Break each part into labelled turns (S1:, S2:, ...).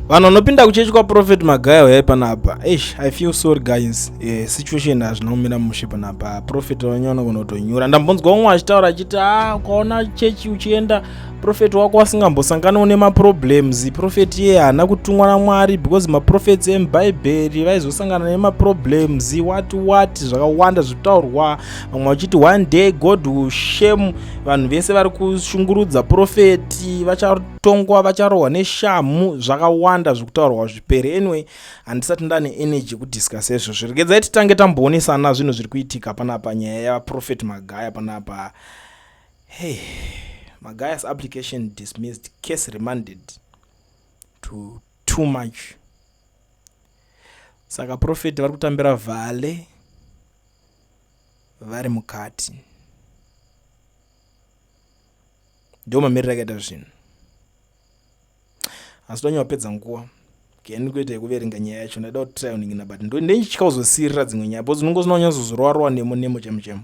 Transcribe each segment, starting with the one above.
S1: vanhu vanopinda kuchechi kwaprofet magaya uyai panapa eish i feel sorry guys eh, situation hazvina kumira mushe panapa profet wenyu anogona kutonyura ndambonzwa umwe achitaura achiti a ah, ukaona chechi uchienda profet wako asingambosanganawo nemaproblems profet iye haana kutumwa namwari because maprofets emubhaibheri vaizosangana nemaproblems what what zvakawanda zvitaurwa vamwe vachiti one day god will shame vanhu vese vari kushungurudza profeti vachatongwa vacharohwa neshamhu zvakawanda zvekutaurwa zvipere anyway handisati ndane energy yekudiscusa izvo zviregedzai titange tamboonesana zvinhu zviri kuitika panapa nyaya yaprofeti magaya panapa hey magayas application dismissed case remanded to too much saka profeti vari kutambira vhale vari mukati ndo mamiriro akaita zvinhu asi tonyawapedza nguva keni kuita yekuverenga nyaya yacho ndaida kutrayoningina but ndenditya kuzosirira dzimwe nyaya bcause unongozina kunyazozorowarowa nemo nemo chemo chemo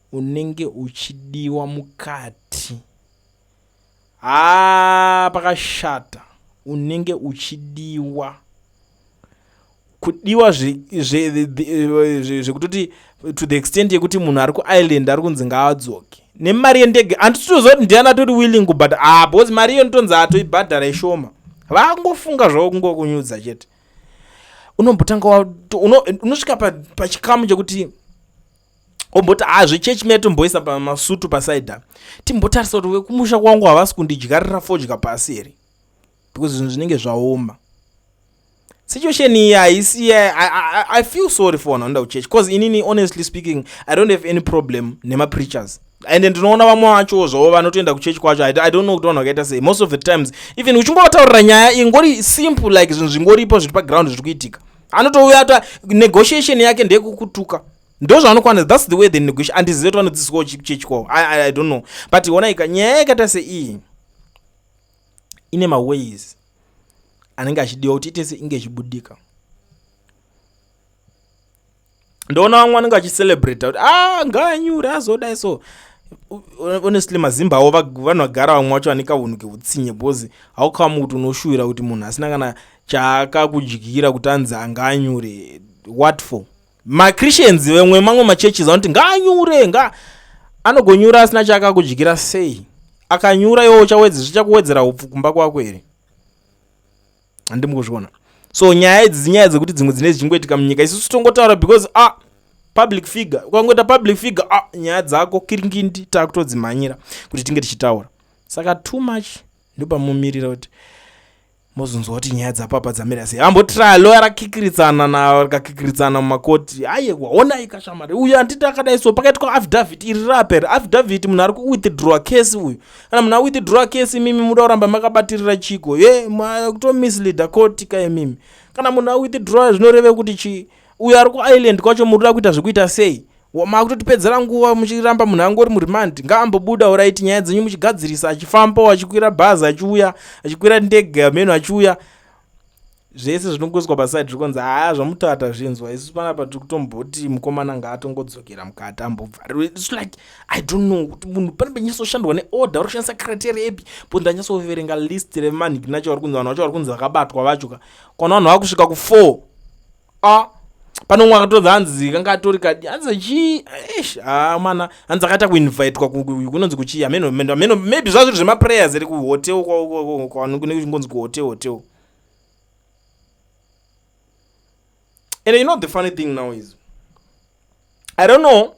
S1: unenge uchidiwa mukati haa pakashata unenge uchidiwa kudiwa zvekutoti to the extent yekuti munhu ari kuireland ari kunzi ngaadzoke nemari yendege handititoziva kuti ndiani atori willing kubhadha haa ah, because mari iyo nditonzi atoibhadhara ishoma vangofunga zvavo kungokunyudza chete unombotanga unosvika pachikamu chekuti omboti haa ah, zvechurch meya tomboisa pamasutu pasaida timbotarisa kuti vekumusha kwangu havasi kundidyarira fodya pasi here because zvinhu zvinenge zvaoma situation iyi haisi i feel sorry for vanhu vanoda kuchurch bcause inini honestly speaking i don't have any problem nemapreachers and ndinoona vamwe vacho zvavo vanotoenda kuchechi kwacho i don't know kuti vanhu vakaita sei most of the times even uchingotaurira nyaya ingori simple like zvinhu zvingoripo zviri paground zviri kuitika anotouya ata negotiation yake ndeyekukutuka ndozvaanokwanisa thats the way the negotiation andizive kuti vanodzidziswawo chipi chechi kwavo i don't know but onaika nyaya yakaita seiyi ine maways anenge achidiwa kuti itese inge ichibudika ndoona vamwe vanenge vachicelebrata kuti a ngaanyure azodai so honestly mazimba avo vanhu vagara vamwe vacho vane kaunhu keutsinye because haukamu kuti unoshuvira kuti munhu asina kana chaakakudyira kuti anzi anga anyure what for machristians vemwe mamwe machurches anoti ngaanyure nga anogonyura asina chaakakudyira sei akanyura iwo uchakuwedzera upfu kumba kwako here handi mukuzviona so nyaya idzi dzinyaya dzekuti dzimwe dzine dzichingoitika munyika isusu tongotaura because a ah, public figure ukangoita public figure a ah, nyaya dzako kiringindi taakutodzimhanyira kuti tinge tichitaura saka too much ndopamomirira kuti mozonzwa kuti nyaya dzapapa dzamira sei ambotry loya rakikiritsana na rakakikiritsana mumakoti aye waona ikashamari uyu anditi akadai so pakaitwa affidavit iri rapera affidavit munhu ari kuwithdrawa case uyu kana munhu awithdra case imimi muda kuramba makabatirira chiko ye kutomisleader court ka imimi kana munhu awithdra zvinoreve kuti chii uyo ari kuisland kwacho muri kuda kuita zvekuita sei makutotipedzera nguva muchiramba munhu angori muremand ngaambobuda uraiti nyaya dzenyu muchigadzirisa achifambawo achikwira bhazi achiuya achikwira ndege ameno achiuya zvese zvinongoiswa paside zviri kunzi haa zvamutaura tazvinzwa isu panapa tiri kutomboti mukomana ngaatongodzokera mukati ambobvarirwe its like i don't know kuti munhu pane penyatsoshandwa neorder vari kushandisa criteria epi po ndanyatsoverenga list remanhikinacho vari kunzi vanhu vacho vari kunzi vakabatwa vacho ka kwana vanhu vakusvika kufour a pane umwe akatodza hanzi kanga atori kadi hanzi chii ish haa mana hanzi akaita kuinvitwa kunonzi kuchii ameno maybe zvazviri zvemaprayers ere kuhotel kwavanonzi kuhotel hotel and you know the funny thing now is i don't know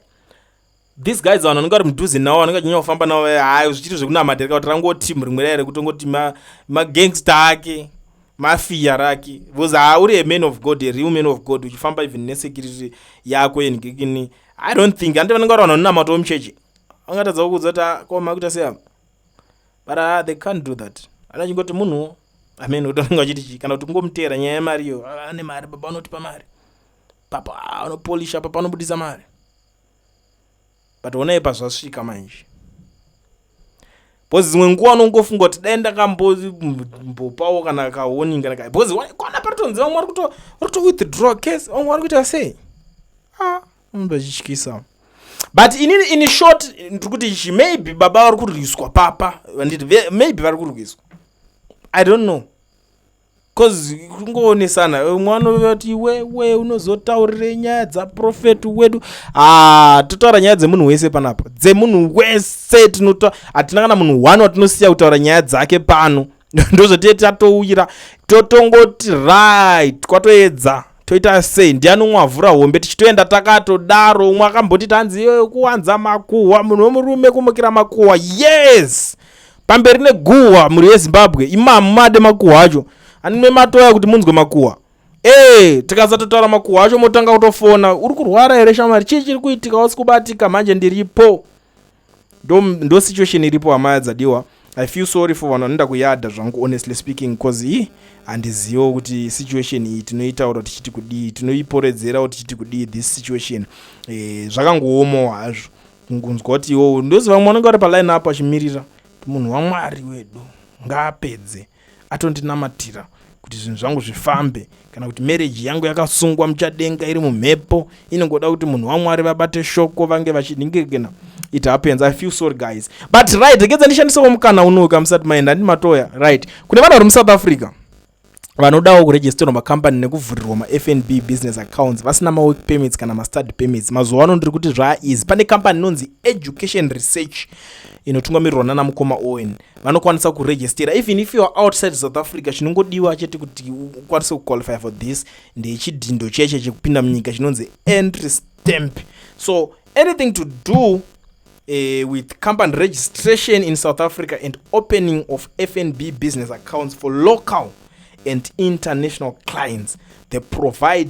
S1: these guys vanhu vanenge vari mudhuze navo vanenge vachinyanya kufamba navo eh, hayi zvichiri zvekunamatira kauti rangoti rimwe raere kutongoti magangsta ake mafiya rake bcause ha uri a man of god a real man of god uchifamba even nesecurity yako yenhikikini i don't think handi vanenge vari vanhu vanonamatawo muchechi vangatadza kukuudza kuti ah, koma kuita seyavo but uh, they can't do that ana chingoti munhuwo amen utonenge achiti chii kana kuti kungomuteera nyaya yemari iyo ah, ane mari baba unotipa mari papa ah, anopolisha papa anobudisa mari but onai pazvasvika manje bcause dzimwe nguva unongofunga kuti dai ndakambopawo kana kaoni kana ka bcause kwana paritonzi vamwe vari kuto withdraw case vamwe vari kuita sei ah. unoda chityisa but ini ini short ndiri kuti ichi maybe baba vari kurwiswa papa vanditi ve- maybe vari kurwiswa i don't know cause kungoonesana umwe anove kuti iwewe unozotaurire nyaya dzaprofeti wedu ah totaura nyaya dzemunhu wese panapa dzemunhu wese tinota hatina kana munhu one watinosiya kutaura nyaya dzake pano ndozvotiye tatouyira totongoti right kwatoedza toita sei ndiani umwe avhura hombe tichitoenda takatodaro umwe akamboti tanzi iyoyo kuwanza makuhwa munhu wemurume kumukira makuhwa yes pamberi neguhwa mhuri yezimbabwe imamu made makuhwa acho anime matoya kuti munzwe makuhwa ee tikasatotaura makuhwa acho motanga kutofona uri kurwara here shamwari chii chiri kuitika wasi kubatika manje ndiripo ndo, ndo situation iripo hama dzadiwa i feel sorry for vanhu vanoenda kuyadha zvangu honestly speaking because i handizivo kuti situation iyi tinoitaura tichiti kudii tinoiporedzerawo tichiti kudii this situation e, zvakangoomawo hazvo kungonzwa kuti iwowo ndoziva mwanenge ari paline apo achimirira munhu wamwari wedu ngaapedze atondinamatira kuti zvinhu zvangu zvifambe kana kuti mereji yangu yakasungwa muchadenga iri mumhepo inongoda kuti munhu wamwari vabate shoko vange vachidingirigena it happens i feel sorry guys but right rekedza ndishandisewo mukana unoyu kamusati maenda handi matoya right kune vanhu vari musouth africa vanodawo kuregisterwa macompany nekuvhurirwa mafnb business accounts vasina mawork permits kana mastad permits mazuva ano ndiri kuti zvaaeasy pane company inonzi education research inotungamirirwa nana mukoma owen vanokwanisa kuregistera even if youare outside south africa chinongodiwa chete kuti ukwanise kuqualify for this ndechidhindo cheche chekupinda munyika chinonzi entry stamp so anything to do uh, with company registration in South Africa and opening of FNB business accounts for local and international clients. They provide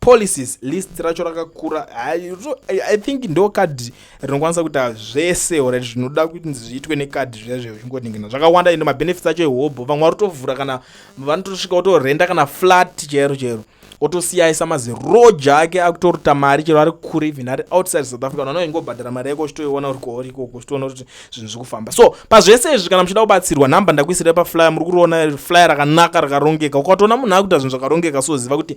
S1: policies list racho rakakura i think ndo kadhi rinokwanisa kuita zvese or zvinoda kuti zviitwe nekadhi zviya zve uchingoningina zvakawanda ende mabenefits acho ehobho vamwe vari kutovhura kana vanotosvika kutorenda kana flat chero chero otosiyaisa maziroja ake akutoruta mari chero ari kure even ari outside south africa nano ingobhadhara mari yako uchitoiona uri kwauri ikoko uchitoona kuti zvinhu zviri kufamba so pazvese izvi kana muchida kubatsirwa nhamba ndakuisira paflyer muri kuriona flyer rakanaka rakarongeka ukatoona munhu akuita zvinhu zvakarongeka soziva kuti